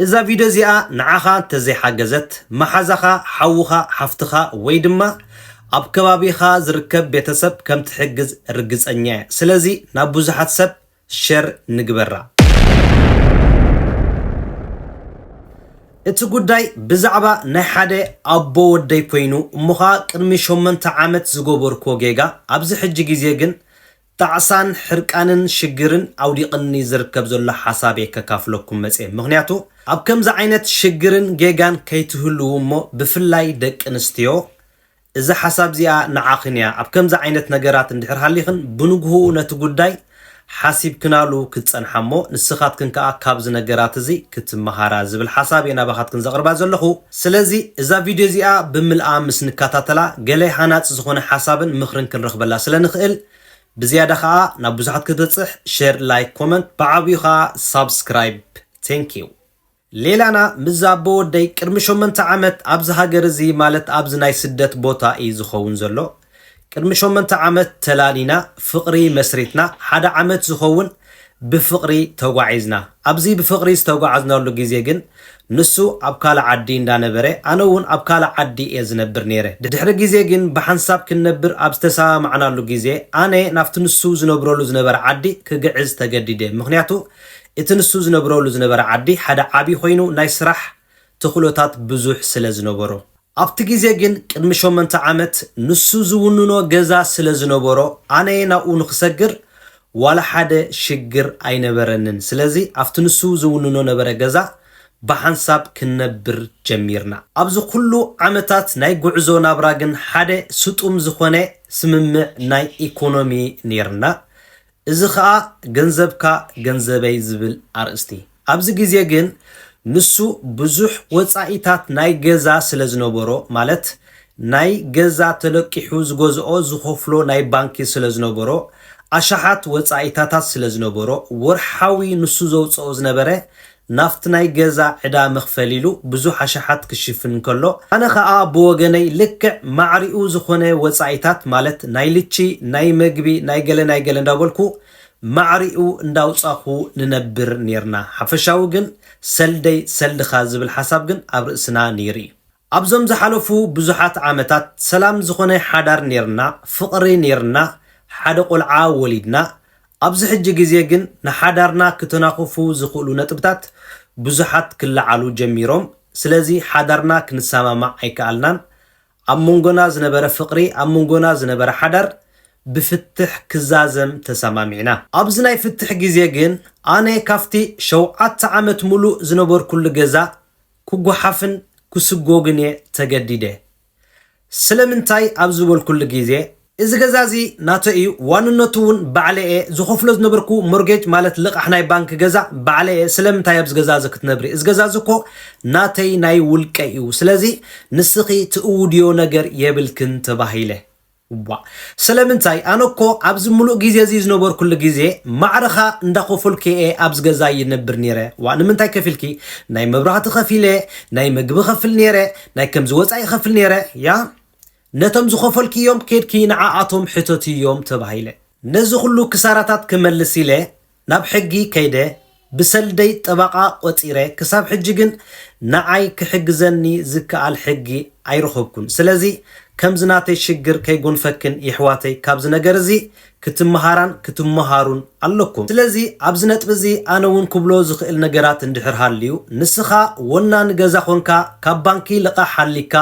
እዛ ቪድዮ እዚኣ ንዓኻ እንተዘይሓገዘት፣ መሓዛኻ፣ ሓውኻ፣ ሓፍትኻ ወይ ድማ ኣብ ከባቢኻ ዝርከብ ቤተሰብ ከም ትሕግዝ ርግጸኛ እየ። ስለዚ ናብ ብዙሓት ሰብ ሸር ንግበራ። እቲ ጉዳይ ብዛዕባ ናይ ሓደ ኣቦ ወደይ ኮይኑ እሞ ኸኣ ቅድሚ ሸሞንተ ዓመት ዝገበርክዎ ጌጋ ኣብዚ ሕጂ ግዜ ግን ጣዕሳን ሕርቃንን ሽግርን ኣውዲቅኒ ዝርከብ ዘሎ ሓሳብ እየ ከካፍለኩም መጽየ ምክንያቱ ኣብ ከምዚ ዓይነት ሽግርን ጌጋን ከይትህልዉ እሞ ብፍላይ ደቂ ኣንስትዮ እዛ ሓሳብ እዚኣ ንዓክን እያ ኣብ ከምዚ ዓይነት ነገራት እንድሕር ሃሊክን ብንግሁኡ ነቲ ጉዳይ ሓሲብክናሉ ክትጸንሓ እሞ ንስካትክን ከኣ ካብዚ ነገራት እዚ ክትመሃራ ዝብል ሓሳብ እየ ናባካትክን ዘቅርባ ዘለኩ ስለዚ እዛ ቪድዮ እዚኣ ብምልኣ ምስ ንከታተላ ገለ ሃናጺ ዝኾነ ሓሳብን ምኽርን ክንረኽበላ ስለ ንኽእል ብዝያዳ ከኣ ናብ ብዙሓት ክትበጽሕ ሸር ላይክ ኮመንት ብዓቢኡ ከኣ ሳብስክራይብ Thank you ሌላና ምስዛ ኣቦወደይ ቅድሚ ሸሞንተ ዓመት ኣብዚ ሃገር እዚ ማለት ኣብዚ ናይ ስደት ቦታ ኢዩ ዝኸውን ዘሎ ቅድሚ ሸሞንተ ዓመት ተላሊና ፍቅሪ መስሪትና ሓደ ዓመት ዝኸውን ብፍቅሪ ተጓዒዝና ኣብዚ ብፍቅሪ ዝተጓዓዝናሉ ግዜ ግን ንሱ ኣብ ካልእ ዓዲ እንዳነበረ ኣነ ውን ኣብ ካልእ ዓዲ እየ ዝነብር ነይረ ድሕሪ ግዜ ግን ብሓንሳብ ክንነብር ኣብ ዝተሰማማዕናሉ ግዜ ኣነ ናብቲ ንሱ ዝነብረሉ ዝነበረ ዓዲ ክግዕዝ ተገዲደ ምኽንያቱ እቲ ንሱ ዝነብረሉ ዝነበረ ዓዲ ሓደ ዓቢ ኮይኑ ናይ ስራሕ ተኽእሎታት ብዙሕ ስለ ዝነበሮ። ኣብቲ ግዜ ግን ቅድሚ ሸሞንተ ዓመት ንሱ ዝውንኖ ገዛ ስለ ዝነበሮ ኣነየ ናብኡ ንኽሰግር ዋላ ሓደ ሽግር ኣይነበረንን ስለዚ ኣብቲ ንሱ ዝውንኖ ነበረ ገዛ ብሓንሳብ ክንነብር ጀሚርና። ኣብዚ ኩሉ ዓመታት ናይ ጉዕዞ ናብራ ግን ሓደ ስጡም ዝኾነ ስምምዕ ናይ ኢኮኖሚ ኔርና እዚ ከኣ ገንዘብካ ገንዘበይ ዝብል ኣርእስቲ። ኣብዚ ግዜ ግን ንሱ ብዙሕ ወጻኢታት ናይ ገዛ ስለ ዝነበሮ ማለት ናይ ገዛ ተለቂሑ ዝገዝኦ ዝኸፍሎ ናይ ባንኪ ስለ ዝነበሮ ኣሽሓት ወጻኢታታት ስለ ዝነበሮ ወርሓዊ ንሱ ዘውጽኦ ዝነበረ ናብቲ ናይ ገዛ ዕዳ መኽፈሊ ኢሉ ብዙሕ ኣሽሓት ክሽፍን እንከሎ፣ ኣነ ከኣ ብወገነይ ልክዕ ማዕሪኡ ዝኾነ ወጻኢታት ማለት ናይ ልቺ፣ ናይ መግቢ፣ ናይ ገለ ናይ ገለ እንዳበልኩ ማዕሪኡ እንዳውጻኹ ንነብር ኔርና። ሓፈሻዊ ግን ሰልደይ ሰልድኻ ዝብል ሓሳብ ግን ኣብ ርእስና ኔሩ እዩ። ኣብዞም ዝሓለፉ ብዙሓት ዓመታት ሰላም ዝኾነ ሓዳር ኔርና፣ ፍቕሪ ኔርና፣ ሓደ ቆልዓ ወሊድና፣ ኣብዚ ሕጂ ግዜ ግን ንሓዳርና ክተናኹፉ ዝኽእሉ ነጥብታት ብዙሓት ክለዓሉ ጀሚሮም፣ ስለዚ ሓዳርና ክንሰማማዕ ኣይከኣልናን፣ ኣብ መንጎና ዝነበረ ፍቕሪ፣ ኣብ መንጎና ዝነበረ ሓዳር ብፍትሕ ክዛዘም ተሰማሚዕና። ኣብዚ ናይ ፍትሕ ግዜ ግን ኣነ ካብቲ ሸውዓተ ዓመት ምሉእ ዝነበርኩሉ ገዛ ክጎሓፍን ክስጎግን እየ ተገዲደ። ስለምንታይ ኣብ ዝበልኩሉ ግዜ፣ እዚ ገዛ'ዚ ናተይ እዩ፣ ዋንነቱ'ውን ባዕለይ እየ፣ ዝኸፍሎ ዝነበርኩ ሞርጌጅ ማለት ልቓሕ ናይ ባንኪ ገዛ ባዕለይ እየ፣ ስለምንታይ ኣብዚ ገዛ'ዚ ክትነብሪ? እዚ ገዛ'ዚ እኮ ናተይ ናይ ውልቀይ እዩ፣ ስለዚ ንስኺ ትእውድዮ ነገር የብልክን ተባሂለ። እዋእ ስለምንታይ ኣነ እኮ ኣብዚ ምሉእ ግዜ እዚ ዝነበርኩሉ ግዜ ማዕረኻ እንዳኸፈልኩ እየ ኣብዚ ገዛ ይነብር ኔረ ዋእ ንምንታይ ከፊልኪ ናይ መብራህቲ ከፊለ ናይ ምግቢ ከፍል ኔረ ናይ ከምዚ ወጻኢ ከፍል ኔረ ያ ነቶም ዝኸፈልክዮም ኬድኪ ንዓኣቶም ሕተትዮም ተባሂለ ነዚ ኩሉ ክሳራታት ክመልስ ኢለ ናብ ሕጊ ከይደ ብሰልደይ ጠባቓ ቆጺረ ክሳብ ሕጂ ግን ንዓይ ክሕግዘኒ ዝከኣል ሕጊ ኣይረኹብኩን ስለዚ ከምዚ ናተይ ሽግር ከይጎንፈክን ይሕዋተይ ካብዚ ነገር እዚ ክትመሃራን ክትመሃሩን ኣለኩም ስለዚ ኣብዚ ነጥቢ እዚ ኣነ ውን ክብሎ ዝኽእል ነገራት እንድሕር ሃልዩ ንስኻ ወናኒ ገዛ ኮንካ ካብ ባንኪ ልቓሕ ሃሊካ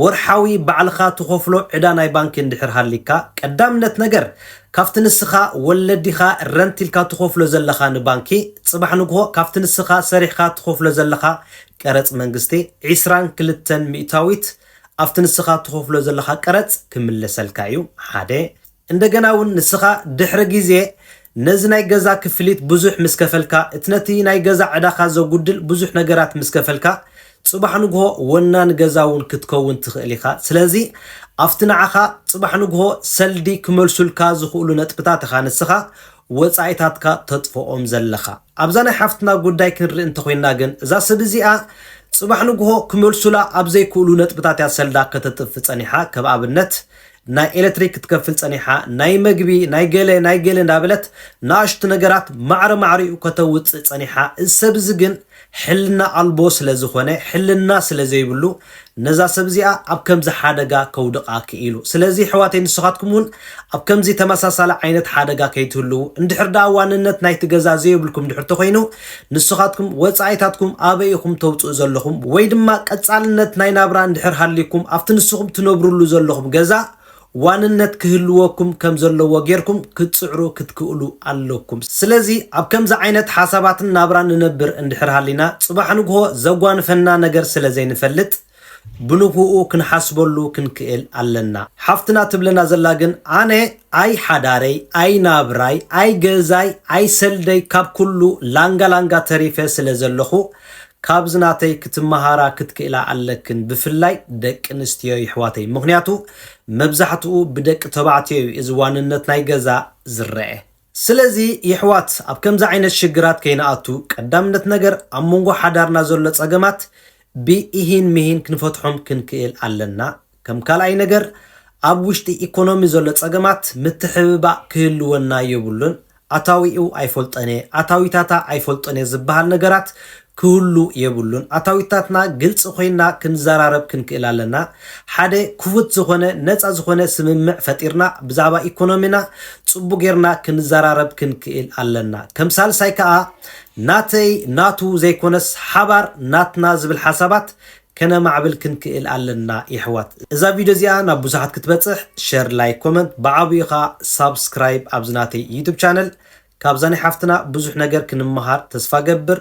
ወርሓዊ ባዕልኻ ትኸፍሎ ዕዳ ናይ ባንኪ እንድሕር ሃሊካ ቀዳምነት ነገር ካብቲ ንስኻ ወለዲኻ ረንት ኢልካ ትኸፍሎ ዘለኻ ንባንኪ፣ ጽባሕ ንግሆ ካብቲ ንስኻ ሰሪሕኻ ትኸፍሎ ዘለኻ ቀረጽ መንግስቲ ዒስራን ክልተን ሚእታዊት ኣብቲ ንስኻ ትኸፍሎ ዘለኻ ቀረጽ ክምለሰልካ እዩ ሓደ እንደገና ውን ንስኻ ድሕሪ ግዜ ነዚ ናይ ገዛ ክፍሊት ብዙሕ ምስ ከፈልካ እቲ ነቲ ናይ ገዛ ዕዳኻ ዘጉድል ብዙሕ ነገራት ምስ ከፈልካ ጽባሕ ንግሆ ወናኒ ገዛ እውን ክትከውን ትኽእል ኢኻ። ስለዚ፣ ኣብቲ ንዓኻ ጽባሕ ንግሆ ሰልዲ ክመልሱልካ ዝኽእሉ ነጥብታት ኢኻ ንስኻ ወጻኢታትካ ተጥፍኦም ዘለኻ። ኣብዛ ናይ ሓፍትና ጉዳይ ክንርኢ እንተ ዄንና ግን፣ እዛ ሰብ እዚኣ ጽባሕ ንግሆ ክመልሱላ ኣብ ዘይክእሉ ነጥብታት እያ ሰልዳ ከተጥፍእ ጸኒሓ። ከም ኣብነት፣ ናይ ኤለትሪክ ክትከፍል ጸኒሓ፣ ናይ መግቢ፣ ናይ ገለ፣ ናይ ገለ እንዳበለት ንኣሽቱ ነገራት ማዕረ ማዕሪኡ ከተውጽእ ጸኒሓ። እዚ ሰብ እዚ ግን፣ ሕልና ኣልቦ ስለ ዝኾነ ሕልና ስለ ዘይብሉ ነዛ ሰብ እዚኣ ኣብ ከምዚ ሓደጋ ከውድቓ ክኢሉ። ስለዚ የሕዋተይ ንስኻትኩም ውን ኣብ ከምዚ ተመሳሳሊ ዓይነት ሓደጋ ከይትህልዉ እንድሕር ደኣ ዋንነት ናይቲ ገዛ ዘየብልኩም እንድሕር ተኾይኑ ንስኻትኩም ወጻኢታትኩም ኣበይ ኢኹም ተውጽኡ ዘለኹም ወይ ድማ ቀጻልነት ናይ ናብራ እንድሕር ሃልይኩም ኣብቲ ንስኹም ትነብርሉ ዘለኹም ገዛ ዋንነት ክህልወኩም ከም ዘለዎ ጌርኩም ክትጽዕሩ ክትክእሉ ኣለኩም። ስለዚ ኣብ ከምዚ ዓይነት ሓሳባትን ናብራን ንነብር እንድሕር ሃሊና ጽባሕ ንግሆ ዘጓንፈና ነገር ስለ ዘይንፈልጥ ብንግሁኡ ክንሓስበሉ ክንክእል ኣለና። ሓፍትና ትብለና ዘላ ግን ኣነ ኣይ ሓዳረይ ኣይ ናብራይ ኣይ ገዛይ ኣይ ሰልደይ ካብ ኩሉ ላንጋ ላንጋ ተሪፈ ስለ ዘለኹ ካብዚ ናተይ ክትማሃራ ክትክእላ ኣለክን ብፍላይ ደቂ ኣንስትዮ ይሕዋተይ ምክንያቱ መብዛሕትኡ ብደቂ ተባዕትዮ እዩ እዚ ዋንነት ናይ ገዛ ዝረኤ ስለዚ ይሕዋት ኣብ ከምዚ ዓይነት ሽግራት ከይንኣቱ ቀዳምነት ነገር ኣብ መንጎ ሓዳርና ዘሎ ጸገማት ብ ኢሂን ምሂን ክንፈትሖም ክንክእል ኣለና ከም ካልኣይ ነገር ኣብ ውሽጢ ኢኮኖሚ ዘሎ ፀገማት ምትሕብባእ ክህልወና የብሉን፣ ኣታዊኡ ኣይፈልጦን'የ፣ ኣታዊታታ ኣይፈልጦን'የ ዝብሃል ነገራት ክህሉ የብሉን፣ ኣታዊታትና ግልፂ ኮይንና ክንዘራረብ ክንክእል ኣለና፣ ሓደ ክፉት ዝኾነ ነፃ ዝኾነ ስምምዕ ፈጢርና ብዛዕባ ኢኮኖሚና ፅቡቕ ገይርና ክንዘራረብ ክንክእል ኣለና፣ ከም ሳልሳይ ከዓ ናተይ ናቱ ዘይኮነስ ሓባር ናትና ዝብል ሓሳባት ከነማዕብል ክንክእል ኣለና የሕዋት። እዛ ቪድዮ እዚኣ ናብ ብዙሓት ክትበጽሕ ሸር ላይክ ኮመንት ብዓብኡ ከኣ ሳብስክራይብ ኣብዚ ናተይ ዩቱብ ቻነል ካብዛ ናይ ሓፍትና ብዙሕ ነገር ክንመሃር ተስፋ ገብር።